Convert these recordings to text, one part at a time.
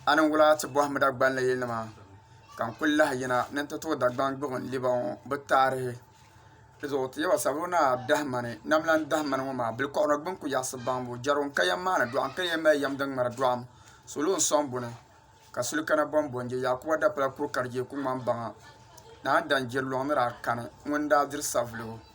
A ni wula ti bɔhim Dagbani yilinima ka n kuli lahi yina ni n ti tuhi Dagbani gbubi n liba ŋɔ bɛ taarihi di zuɣu ti yɛba sabbu ni a dahi ma ni nam lan dahi ma ni ŋɔ maa bilikɔɣunɔ gbini ku yaɣisi baŋbu jɛrigu n-ka yɛm maani dɔɣu n-ka yɛm mali yɛm din ŋmari dɔɣim salo n-sɔŋ buni ka suli kana bɔni bɔni je Yaakuba Dapala kuri ka di je ku ŋmani baŋa ni a ni dan je luɣ ni daa kani ŋuni n-daa diri savuligu.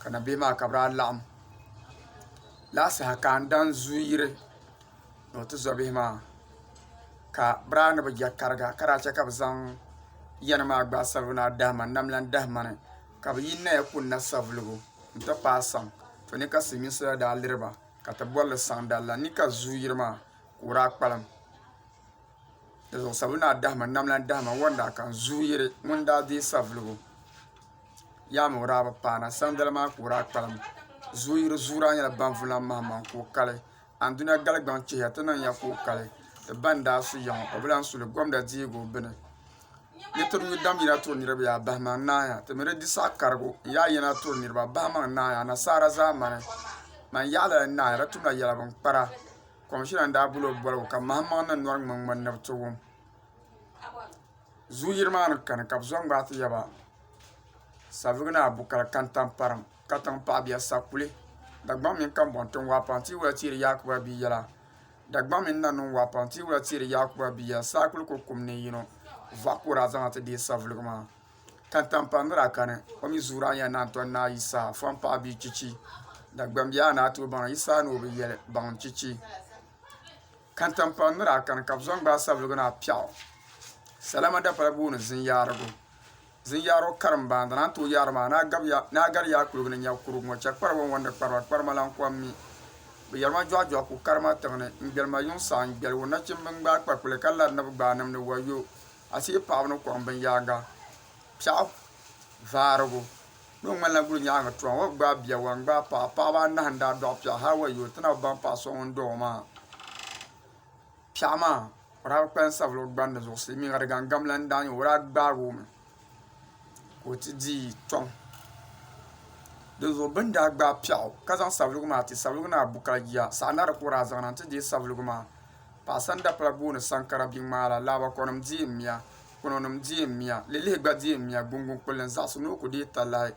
ka na bihi maa ka bi daa laɣim laa saha ka n dan zu yiri ni o ti zo bihi maa ka bi daa ni bi je tariga ka daa che ka bi zaŋ yɛni maa gbaai sabigi ni a dahi ma n nam lan dahi ma ni ka bi yi naya kuli na savuligu n ti paai saŋ to ni ka silimiinsi la daa liri ba ka ti boli li saŋ dali la ni ka zu yiri maa ka o daa kpalim. Di zuɣu sabu naa dahima nam lan dahima ŋɔ n-daa kan zuyu yiri ŋun daa deei savuligu yaa mi o daa bi paana sanidali maa ka o daa kpalim. Zuyu yiri zuyu daa nyɛla Banvulan Mahammaŋ ka o kali. Anduna Galigbaŋ chihiya ti niŋ ya ka o kali ti ba n-daa su ya ŋɔ o bi lan su li Gomda deebu bini. Ni ti nyu dam yina turi niriba yaa bahimaŋ n-naaya ti mi di di saɣi karigu n-yaa yina turi niriba bahimaŋ n-naaya anasaara zaamani man yaɣilali n-naaya di tumla yɛla binkpara. Komishina n daa boli o boligu ka mahim maŋ na nɔri ŋmaŋ ŋmani ni bi ti wum zuu yiri maa ni kani ka bi zo n gbaai ti yaba savigi ni abu kali kantamparim katiŋ paɣabiya sakuli Dagbaŋ mini kambɔŋ tiŋ waapaŋ tia wula teeri Yaakubu Abiy yɛla Dagbaŋ mini Nannuŋ waapaŋ tia wula teeri Yaakubu Abiy yɛla saakuli ko kum ni yino vɔɣu ka o daa zaŋ na ti deei saviligi maa. Tantampaɣ ni daa kani, o mi zuuri aniya ni a ni tɔri Naa Yisaa fɔŋ paɣ bia chichi. Dagbam biɛhigu ni a tooi baŋ Yisaa ni o bi yɛli baŋ chichi. Kantampaɣ ni daa kani ka bɛ zaŋ gbaai sabiligu ni a piɛɣu sala madapala booni zinyaarigu. Zinyaarigu karim baandi ni a ni tooi yaari maa ni a gari yaai kuligu ni nya kurugu ŋɔ chɛ kpariba ni wɔndi kpariba, kparima lan kɔŋ mi. Bɛ yɛri ma jɔɣijɔɣi ku karima tiŋ ni, n gbɛli ma yuŋ saɣim gbɛligu nachimba n-gbaai kpakuli ka lari ni bɛ gbaai nimdi wayo. Asiyi paɣaba ni kɔŋ binyaaŋa piɛɣu vaarigu ni o ŋmanila guli nyaaŋa tɔha ŋɔ gbaai bia wa n-gbaai paɣa paɣaba anahi n-daa dɔɣi piɛɣu hali wa yo ti na bi baŋ paɣ so ŋun dɔɣi o maa piɛɣu maa o daa bi kpalim sabila o gbandi zuɣu silimiiŋa di gaŋgam la n-daa nyɛ o o daa gbaagi o mi ka o ti di tɔŋ di zuɣu bɛ ni daa gbaai piɛɣu ka zaŋ sabiligu maa ti sabiligu ni a bu ka di jia saɣinari ka o daa zaŋ na n-ti deei sabiligu maa Paɣa sanda pala booni sankara biŋmaara, laabakɔnim diɛm miya, kpinonim diɛm miya, lilihi gba diɛm miya, guŋguŋ kpulli n zaɣisi ni o ku deei talahi.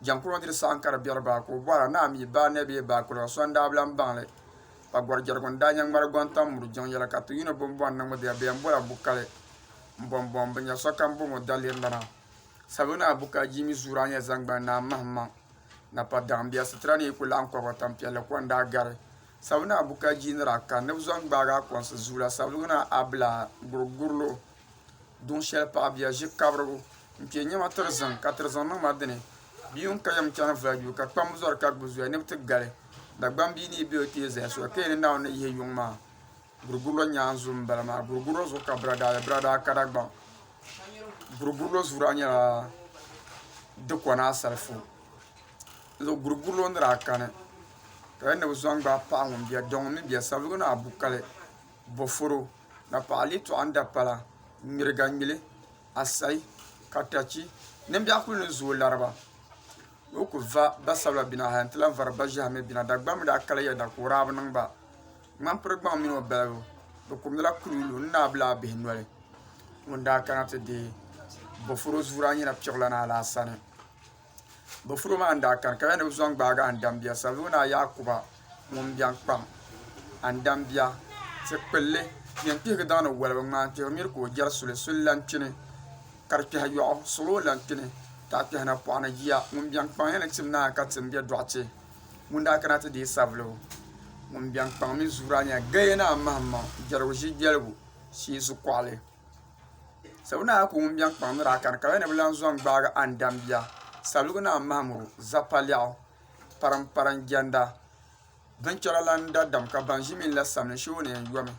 Jɛŋkuno diri saha n ka di biɛri baa ka o bɔhira ni a mi baa nɛ bee baa kuliga so n daa bi lan baŋ li. Kpagɔrijɛrigu n daa nyɛ ŋmari gɔŋ tam muri jiŋ yɛla ka ti yuuni bombɔŋ ni ŋmibiha bee n bɔla bukali m bombɔŋ bi nya sokam bom o dalirlana. Sabibu ni a bukali jiimi zuuri a nya zaŋgbani ni a mahimaŋ napadaɣimbiya sitira ni yi ku laɣim kɔba tampiɛlli ko n daa gari. Sabuluna a buka ji ni daa kani ni bɛ zɔn gbaagi a kɔnsi zuula Sabuluna a bila gurigurilo duŋ shɛli paɣa bia ʒi kabirigu m-piɛ nyɛma tiri ziŋ ka tiri ziŋ niŋ ma dini bia ŋun ka yɛm chani vula yuui ka kpambu zɔri ka gbubi zuya ni bɛ ti gali Dagbambi ni yi be o ti yi zaya soya ka yi ni Naawuni ni yihi yuŋ maa Gurugurlo nyaanzu n bala maa gurugurlo zuɣu ka bira daa be bira daa ka Dagbaŋ gurugurlo zuɣu daa nyɛla dikona asalifu zuɣu gurugurlo ni daa kani ka yɛli ni bi zaŋ gbaai paɣa ŋun bɛ daw ŋun mi bɛ sabigi ni a bu kali boforo na paɣa lee tɔɣa n da pala ŋmiriga ŋmili asayi katachi nimbiɛɣu kuli ni zooi lariba ni o ku va ba sabila bɛ na hali n ti lahi vari ba ʒiɛhi mi bɛ na Dagbaŋ mi daa kali yɛda ka o daa bi niŋ ba Ŋmanpirigbaŋ mini o balibu bɛ kumdila kuluulu n-naai Bilaabihi noli ŋun daa kana ti deei Bofuro zuura nyina piɣulana Alaasani. Bofuro maa ni daa kani ka ya ni bɛ zo n-gbaagi Andambia Savelugu Naa Yaakuba ŋun biɛŋ kpaŋ Andambia ti kpilli yɛn kpihigi daŋ ni walibi ŋmaan kpihiri miri ka o jɛri suli suli lan kpini ka di kpɛhi yɔɣu suɣulo lan kpini taɣikpɛhi napɔɣu ni jia ŋun biɛŋ kpaŋ ya ni tim naai ka tim be dɔɣite Ŋun daa kana ti deei savulibu ŋun biɛŋ kpaŋ mini zuuraa nyɛla Gaya Naa Mahammaŋ Jɛrigu Ʒi Jɛligu Shee Zukuɣili. Sabu naa ku ŋun biɛŋ kpaŋ ni daa kani ka Gaya ni bi lan zɔŋ gbaagi a ni dambia savuligu naa Mahamuru Zappa lɛɣu. Paramparan jɛnda binchɛra lan da dam ka ban ʒi mini la samli shee o ni yɛn yomi.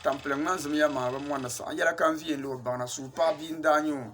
Tampiliŋ ŋmanzimiya maŋa bi mɔndi saɣim yɛla ka n viya n-lo baŋ na, suhupaɣ bia n-daa nyɛ o.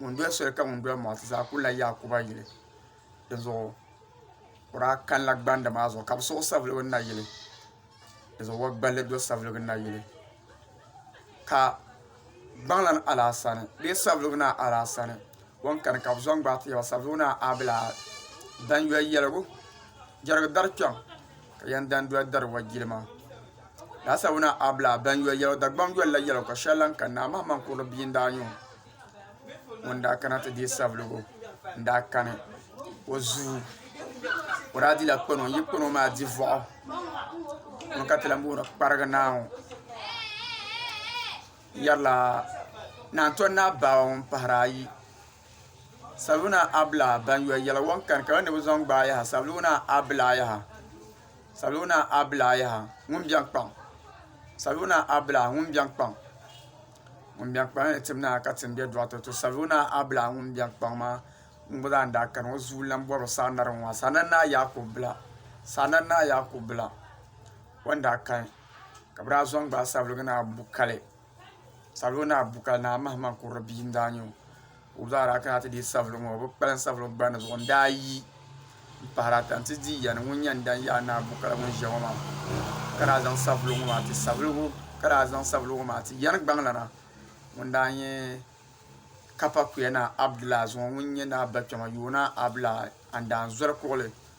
ŋun doli soli ka ŋun doli maɣasi zaa kuli la Yaakuba yili di zuɣu o daa kanila gbandi maa zuɣu ka bi siɣi o saviligi ni na yili di zuɣu o gballi do saviligi ni na yili ka gbaŋlana alaasani bee saviligi naa alaasani o ni kani ka bi zaŋ gbaai ti yaba saviligi naa a bi lahi danyoli yɛligu jɛrigi dari kpɛm Ka yɛn dan doli dari wa jilima. Laasawuna Abla ban yoli yɛlo Dagbaŋ yoli la yɛlo ka shɛli lan ka Naa Mahamani Kurili bia n-daa nyɛ o. Ŋun daa kana ti deei Savelugu n-daa kani o zuu. O daa dila kpano n-yi kpano maa di vɔɣu. Ŋuni ka ti lan booni Kparigi Naa ŋɔ yɛrila Naantɔn Naa Baaba ŋun pahiri ayi Saluna abla ban yɔ yɛla wɔn kani ka ni bi zɔn gbaai yaha saluna abla yaha saluna abla yaha ŋun bɛn kpaŋ saluna abla ŋun bɛn kpaŋ ŋun bɛn kpaŋ la ni tim naai ka tim bɛ dɔɣite to saluna abla ŋun bɛn kpaŋ maa ŋun gba zaa ni daa kani o zuu lan bɔri saanari ŋɔ maa saana naa Yakubu bila saana naa Yakubu bila o ni daa kani ka bi daa zɔn gbaai sabuligi naa bu kali. Sabili ŋɔ naa bu ka naa Mahamani kurili bia n daa nyɛ o ka o zaara a kana ti deei sabili ŋɔ o bi kpalim sabili gbandi zuɣu n daa yi n pahari ata n ti dii yani ŋun yɛn dani yaai naa bu kala ŋun ʒiya ŋɔ maa ka daa zaŋ sabili ŋɔ maa ti yani gbaŋ lana ŋun daa nyɛ Kapakuya naa Abdulai zuŋɔ ŋun nyɛ naa Bakpɛma Yoonaa Abdulai Andaanzoli kuɣili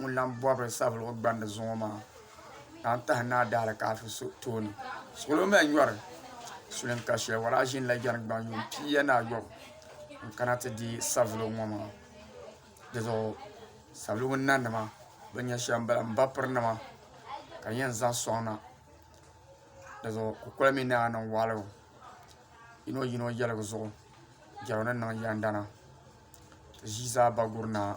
ŋun lan bɔbiri savilgu gbandi zuŋɔ maa naan tahi Naa Daalikaafir so tooni. Suɣilo mali nyɔri sulinŋ ka shɛli waraa ʒini la jɛni gbaŋ yuŋ pii ya ni ayɔbu n-kana ti deei savilgu ŋɔ maa. Di zuɣu savilgu nanima bɛ nya shɛm m-bala, m bapirinima ka di yɛn zaŋ sɔŋ na. Di zuɣu kukoli mi naa niŋ waɣilu yino yino yɛligu zuɣu jɛrigu ni niŋ yɛndana. Ti ʒii zaa ba guri naa.